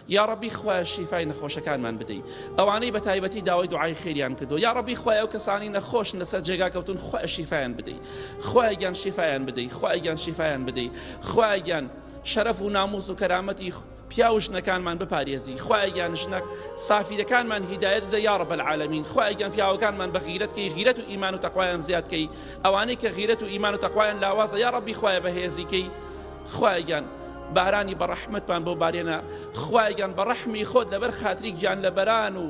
یاڕەبی خوایە شیفای نەخۆشەکانمان بدەی ئەوانەی بەتایبەتی داوای دوعای خێریان کردو یاڕەبی خوای ئەو کەسانی نەخۆشن لەسەر جێگا کەوتون خوایە شیفایان بدەی خوایە گیان شیفایان بدەی خوایە گیان شیفایان بدەی خوایە گیان شەرەف و ناموس و کەرامەتی پیاو ژنەکانمان بپارێزی خوایگیان ژنە سافیرەکانمان هیدایەت بدە یا رب العالمین خوایگیان پیاوەکانمان بە غیرەت کەی غیرەت و ئیمان و تەقوایان زیاد کەی ئەوانەی کە غیرەت و ئیمان و تەقوایان لاوازە یا ربی خوایە بەهێزی کەی خوایە گیان بارانی بەڕەحمەتمان بۆ بارێنە خوایە گیان بە ڕەحمی خۆت لەبەر خاتری گیان لە بەران و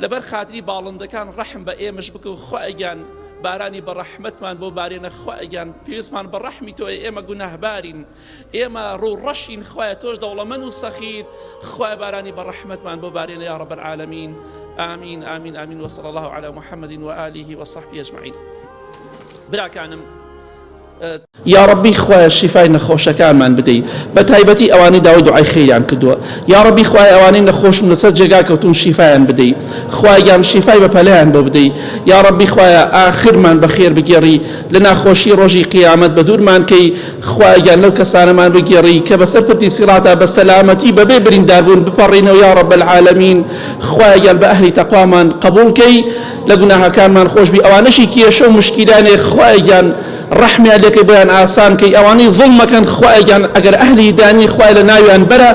لەبەر خاتری باڵندەکان ڕەحم بە ئێمەش بکە و خوایە گیان بارانی بە ڕەحمەتمان بۆ بارێنە خوایە گیان پێویستمان بە ڕەحمی تۆ ئێمە گوناهبارین ئێمە ڕوو ڕەشین خوایە تۆش دەوڵەمەن و سەخیت خوای بارانی بە ڕەحمەتمان بۆ بارێنە یا ڕەبەر عالمین آمین آمین آمین وصلى الله على محمد وآله وصحبه أجمعين براکانم یاڕەبی خوایە شیفای نەخۆشەکانمان بدەی بەتایبەتی ئەوانەی داوای دوعای خێریان کردووە یاڕەبی خوایە ئەوانەی نەخۆشن لەسەر جێگا کەوتون شیفایان بدەی خوایان شیفای بەپەلەیان بۆ بدەی یاڕەبی خوایە ئاخرمان بەخێر بگێڕی لە ناخۆشی ڕۆژی قیامەت بە دوورمان کەی خوایان لەو کەسانەمان بگێڕی کە بەسەر پردی سیڕاتا بە سەلامەتی بەبێ برینداربوون بپەڕینەوە یاڕەبەلعالەمین خوایان بە ئەهلی تەقوامان قبول کەی لە گوناهەکانمان خۆش بی ئەوانەشی کێشە و مشکیلان هەیە خوایە گیان ڕەحمیان لێکەی بۆیان ئاسان کەی ئەوانەی زڵمەکەن خوایە گیان ئەگەر ئەهلی دانی خوای لە ناویان بەرە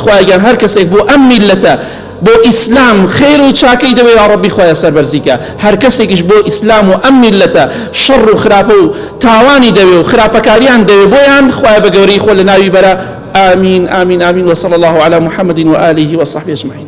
خوایە گیان هەر کەسێک بۆ ئەم میلەتە بۆ ئیسلام خێر و چاکەی دەوێ یا ڕەبی خوایە سەربەرزیکە هەر کەسێکیش بۆ ئیسلام و ئەم میلەتە شەڕ و خراپە و تاوانی دەوێ و خراپەکاریان دەوێ بۆیان خوایە بە گەورەی خۆ لە ناوی بەرە آمین آمین آمین وصلى الله على محمد وآله وصحبه أجمعين